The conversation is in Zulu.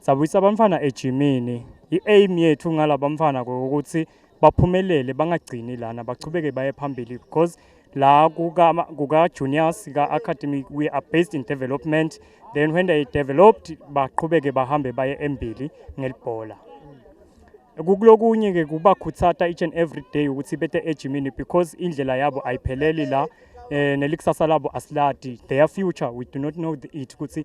Sabuyisa abamfana ejimini. I-aim yethu ngala bamfana ukuthi baphumelele bangagcini lana bachubeke baye phambili because la kuka-juniors ka-academy we are based in development then when they developed baqhubeke bahambe baye embili ngelibhola kukulokunye-ke kubakhuthata each and every day ukuthi bete ejimini because indlela yabo ayipheleli la eh nelikusasa labo asiladi their future we do not know the it ukuthi